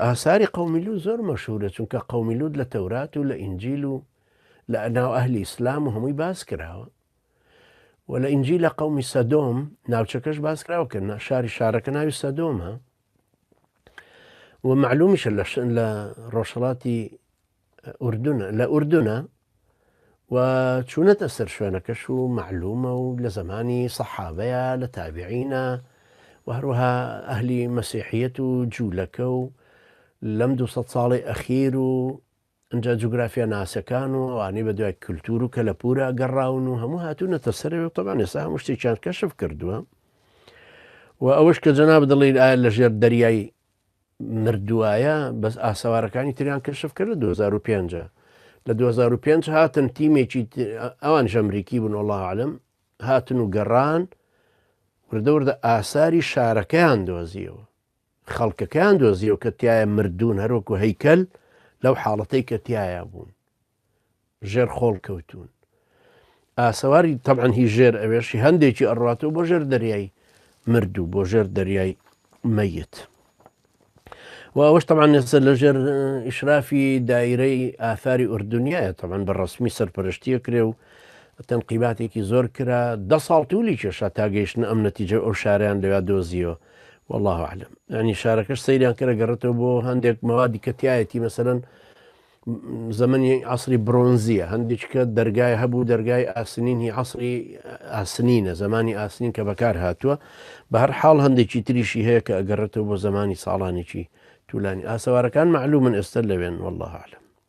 ئاساری قەومی لوط زۆر مەشهورە چونکە قەومی لوط لە تەورات و لە ئینجیل و لە ناو ئەهلی ئیسلام و هەمووی باس کراوە و لە ئینجیل لە قەومی سەدۆم ناوچەکەش باس کراوە کە شاری شارەکە ناوی سەدۆمە و معلومیشە لە ڕۆژهڵاتی ئوردنە لە ئوردنە و چوونەتە سەر شوێنەکەش و مەعلومە و لە زەمانی سەحابەیە لە تابعینە و هەروەها ئەهلی مەسیحیەت و جوولەکە و لەم دو ساڵی ئەخیر و ئەجا جوگرافیا ناسەکان و ئەوانەی بە دوای کللتور و کەلەپورە گەڕاون و هەموو هاتوونەتە سەر و تەبان ێسا هەموو شتێکیان کەشف کردووە و ئەوەش کە جەناب دڵی ئایا لە ژێر دەریای مردوایە بەس ئاسەوارەکانی تریان کەشف کرد لە 2005 لە 2005 هاتن تیمێکی ئەوان ژەمریکی بوون وڵا عالم هاتن و گەڕان وردەوردە ئاساری شارەکەیان دۆزیەوە خەڵکەکەیان دۆزیەوە کە تایە مردوون هەروەکو هەیکەل لەو حاڵەتەی کە تایە بوون ژێر خۆڵ کەوتوون ئاسەواری تەبعەن هی ژێر ئەوێشی هەندێکی ئەڕاتەوە بۆ ژێر دەریای مردوو بۆ ژێر دەریای مەیت و ئەوەش تەمان نێسە لە ژێر ئیشرافی دایرەی ئاثاری ئوردنیایە تەمان بە ڕسمی سەرپەرشتیە کرێ و تەنقیباتێکی زۆر کرا دە ساڵ تولی کێشا تا گەیشتن ئەم نەتیجە ئەو شاریان لەویا دۆزیەوە والله عالم ینی شارەکەش سەیریان کرە گەڕێتەوە بۆ هەندێک مەوادی کەتیایەتی مەسەرەن زەمەنی عەسری برۆنزییە، هەندیچکە دەرگای هەبوو، دەرگای ئاسنین هی عەسری ئاسنینە، زەمانی ئاسنین کە بەکار هاتووە، بە هەر حاڵ هەندێکی تریشی هەیە کە ئەگەڕێتەوە بۆ زەمانی ساڵانێکی توولانی، ئاسەوارەکان مەعلوومن ئێستا لەوێن واللە اعلم.